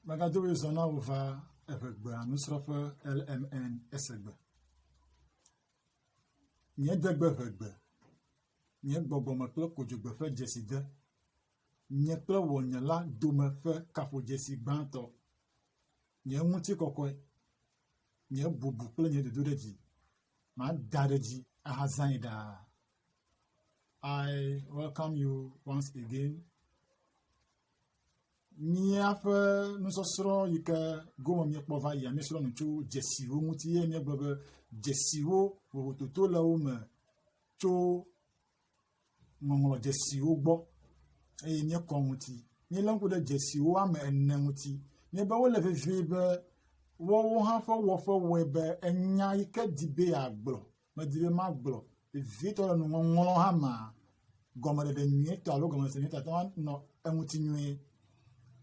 Magado be zɔ na wò va eŋegbea nusrɔ̃ƒe LMN esegbe. Nye degbe ŋegbe, nye gbɔgbɔme kple kodzogbe ƒe dzeside, nye kple wò nye la dome ƒe kaƒodzesi gbãtɔ, nye ŋutikɔkɔe, nye bubu kple nye dodoɖedzi, mada ɖe dzi ahazãe ɖaa. I welcome you once again. Míaƒe nusɔsrɔ̃ yi ke gome míekpɔ va yia míesrɔ̃ nu tso dzesiwo ŋuti ye míegblɔ be dzesiwo vovototo le wo me tso ŋɔŋlɔ dzesiwo gbɔ eye míekɔ ŋuti. Míelé ŋku ɖe dzesiwo ame ene ŋuti. Míebe wole vevie be woawo hã ƒe wɔƒe wɔe be enya yi ke di be yeagblɔ medi be magblɔ vevietɔ le nuŋɔŋlɔ hã mea, gɔmeɖeɖe nyuietɔ alo gɔmese nyuietɔ ate ŋu anɔ eŋuti nyuie.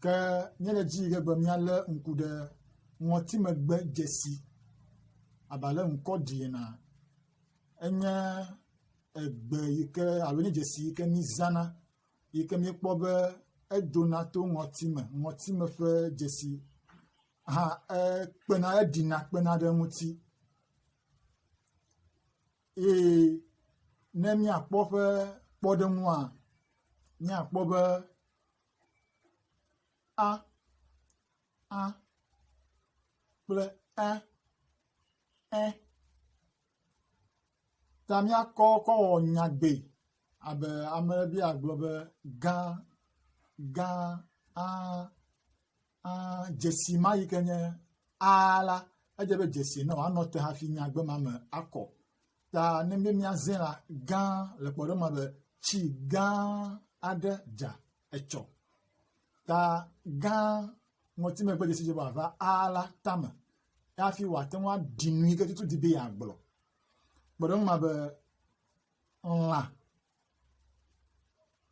Ke míele dzi yi ke be míalé ŋku ɖe ŋɔtimegbe dzesi abe ale ŋkɔ ɖi ena. Enye egbe yi ke alo nye dzesi yi ke mízãna yi ke míekpɔ be edona to ŋɔtime, ŋɔtime ƒe dzesi hã ekpena eɖina kpena ɖe eŋuti. eye ne míakpɔ eƒe kpɔɖeŋua, míakpɔ be a, a kple e, ẽ ta míakɔ kɔ wɔ nyagbe abe ale be agblɔ be gã, gã, aa. Aa, dzesi ma yi ke nye aa la, edze be dzesi nɔ anɔ te hafi nyagbe ma me akɔ. Ta ne be míazẽ la, gã le kpɔɖeŋu ma be tsi gã aɖe dza etsɔ. Ta gã ŋɔtimegbe dzesi dze be wòava aa la tame hafi wòate ŋu aɖi nu yi ke tutu di be yeagblɔ. Kpɔɖeŋu ma be lã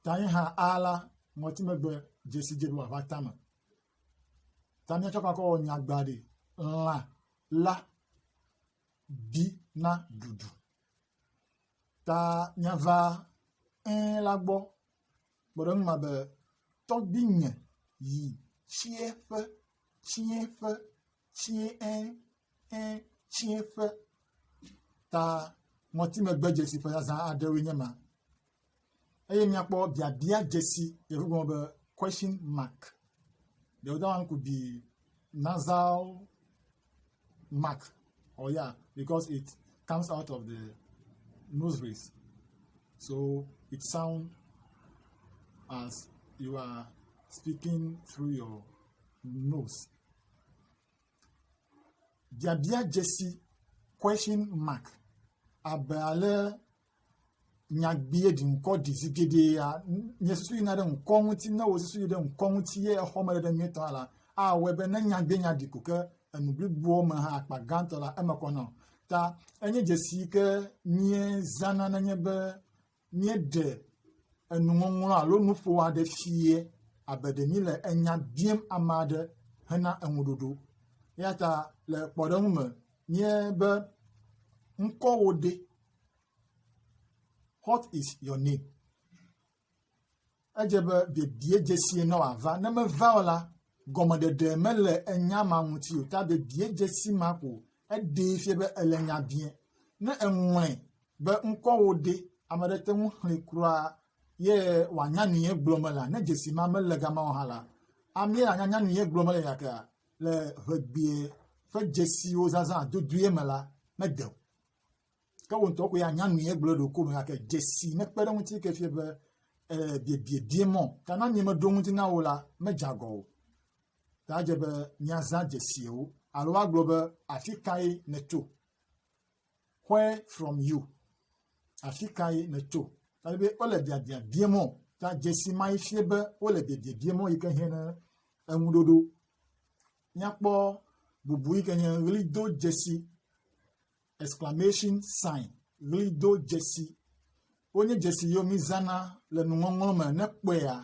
Tayiha A la, ŋɔtimegbe dzesi dze ɖoa ƒe atame. Ta míatsɔ kɔ akɔwɔ nyagba ɖi. Lã la bi na ɖuɖu. Ta míava ẽ la gbɔ kpe ɖe eŋu me be, Tɔgbuinye yi tsiẽƒe, tsiẽƒe tsiẽ ẽ ẽ tsiẽ ƒe ta ŋɔtimegbedzesi ƒe zazã aɖewoe nye ma eye míakpɔ biabia dzesi yevu gblɔ be question mark the other one could be nasal mark or ya because it comes out of the nose rays so it sound as you are speaking through your nose. biabia dzesi, question mark, abe ale nyagbee ɖi ŋkɔ ɖi zi geɖea nye susu yina ɖe ŋkɔ ŋuti ne wò susu yi ɖe ŋkɔ ŋuti ye exɔ me ɖeɖe nyuitɔ hã la, awɔe be ne nyagbee nya ɖi ko ke enu bliboa me hã akpa gãtɔ la eme kɔ na o. Ta enye dzesi yi ke míezãna nenye be míeɖe enuŋɔŋlɔ alo nuƒo aɖe fia abe ɖe míele enya biam ame aɖe hena eŋuɖoɖo. Eya ta le kpɔɖeŋu me nye be ŋkɔwò ɖe? What is your name? Edze be biebie dzesie ne wòava. Ne meva o la, gɔmeɖeɖe mele enya ma ŋuti o. Ta biebie dzesi ma ko eɖee fia be ele nya biẽ. Ne eŋlɔe be ŋkɔwò ɖe, ame aɖe te ŋu xlẽe kura ye wòanya nu ye gblɔ me lea? Ne dzesi ma mele gama o hã la, amee anyanya nu ye gblɔ me le yakea? Le ʋegbee ƒe dzesiwo zazã dodoea me la, mede o. Ke wò ŋutɔ koe anya nu ye gblɔ ɖo ko me gake dzesi nekpe ɖe ŋuti ke fie be eh, biebie mɔ ta na mi meɖo ŋuti na wò la medze agɔ o. Ta dze be miazã dzesiwo alo woagblɔ be afi kae nètso. Where from you? Afi kae nètso? Ta be wole biabia bie mɔ ta dzesi ma yi fie be wole biebie bie mɔ yi ke hiã ne eŋuɖoɖo. Míakpɔ bubu yi ke nye ɣlido dzesi exclamation sign, ʋlidodzesi. Wonye dzesi yiwo mizãna le nuŋɔŋlɔ me ne kpɔea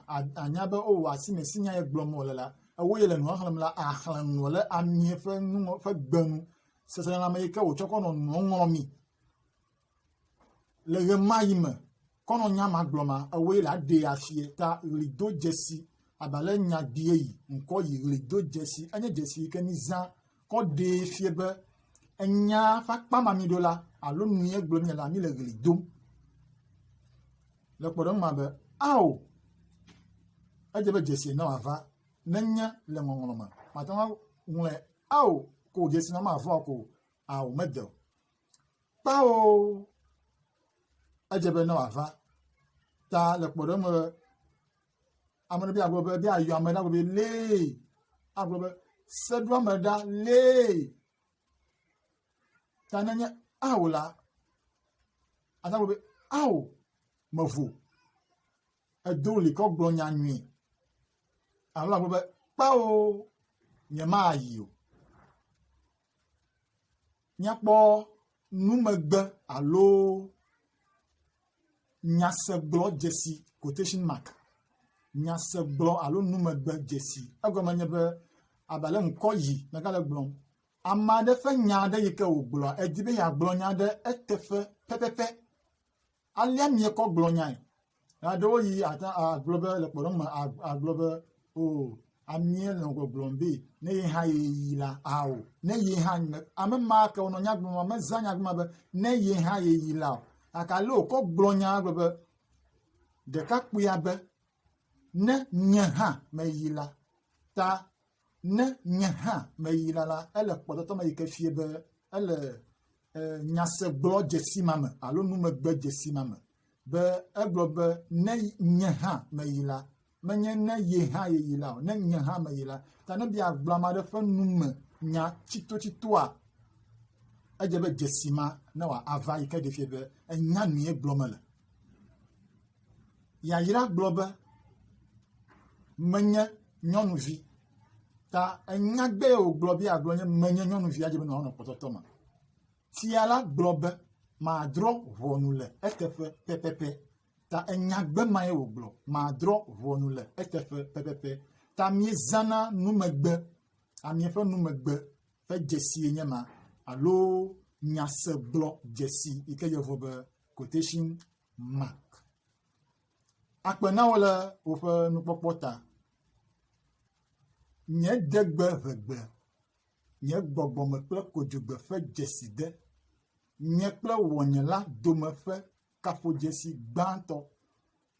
anya be o oh, asi me si nya ye gblɔm wole la, ewo ye le nua xlẽm la axlẽ nu le amie ƒe nuŋɔ ƒe gbe nu. Seselelãme yi ke wòtsɔ kɔ nɔ nuɔ ŋlɔmi le ɣemaɣi me. Kɔnɔnya ma gblɔ ma ewoe la ɖee asie ta ɣlido dzesi aba le nya gbie yi ŋkɔ yi ɣlido dzesi enye dzesi yi ke mi zã kɔ ɖee fie be enya ƒe akpa ma mi ɖo la alo nue gblɔ mi la mi le ɣli dom le kpɔɖeŋu ma be ao edze be dzesi na wava nenye le ŋɔŋlɔ me mate ŋu ŋlɔe ao ko dzesi na ma vɔ ko ao mede o Kpao edze be ne wòava ta le kpɔɖeŋu me be ame ɖe be agblɔ be be yeayɔ ame ɖe agblɔ be lee agblɔ be seɖoame ɖa lee ta nenye ao la ata gblɔ be ao mevo edo li kɔ gblɔ nya nyui alo agblɔ be kpao nyemayi o. míakpɔ numegbe alo nyasegblɔ dzesi quotation mark nyasegblɔ alo numegbe dzesi egɔme nye be abale ŋkɔ yi megale gblɔm ame aɖe ƒe nya aɖe yi ke wògblɔa edi be yeagblɔ nya aɖe eteƒe pɛpɛpɛ Alea miekɔ gblɔ nyae. Aɖewo yi ate agblɔ be le kpɔɖeŋu me agblɔ be o amie nɔ gbɔgblɔm be ne ye hã ye yi la ao ne ye hã me ame ma ke wonɔ nya gblɔm ame zã nya gblɔm be ne ye hã ye yi la o gake ale wòkɔ gblɔ nya gblɔ be ɖekakpuia be ne nye hã meyi la ta Ne nye hã meyina la, ele kpɔtɔtɔ me yi ke fie be ele nyasegblɔ dzesi ma me alo numegbe dzesi ma me be egblɔ be ne nye hã meyi la, menye ne ye hã yeyi la o, ne nye hã meyi la. Ta ne bia gblɔ ame aɖe ƒe nu me nya tsitotsitoa, edze be dzesi ma ne wòava yi ke ɖe fie be enya nue gblɔ mele. Yayra gblɔ be, Menye nyɔnuvi. Ta enya gbɛ wògblɔ be yeagblɔ nye menye nyɔnuvia dzi be nɔnɔ kpɔtɔtɔ me. Fia la gblɔ be, Madrɔ̃ ʋɔnu le eteƒe pɛpɛpɛ. Ta enya gbɛ mae wògblɔ, Madrɔ̃ ʋɔnu le eteƒe pɛpɛpɛ. Ta miezãna numegbe, ami ƒe numegbe ƒe dzesie nye ma alo nyasegblɔ dzesi yi ke yɔvo be quotation mark. Akpe na wo le woƒe nukpɔkpɔ ta. Nye degbe ʋegbe, nye gbɔgbɔme kple kodzogbe ƒe dzeside, nye kple wɔnyela dome ƒe kaƒodzesi gbãtɔ,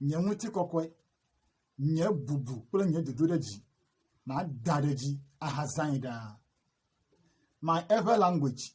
nye ŋutikɔkɔe, nye bubu kple nye dodoɖedzi, mada ɖe dzi ahazãe ɖaa. My ever language,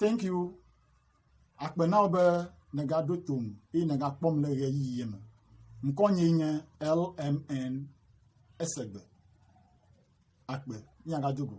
Thank you. Akpe na wò be nègaɖo tom eye nègakpɔm le ɣeyiɣie me. Ŋkɔnyee nye LMN Esegbe. Akpe. Míagado go.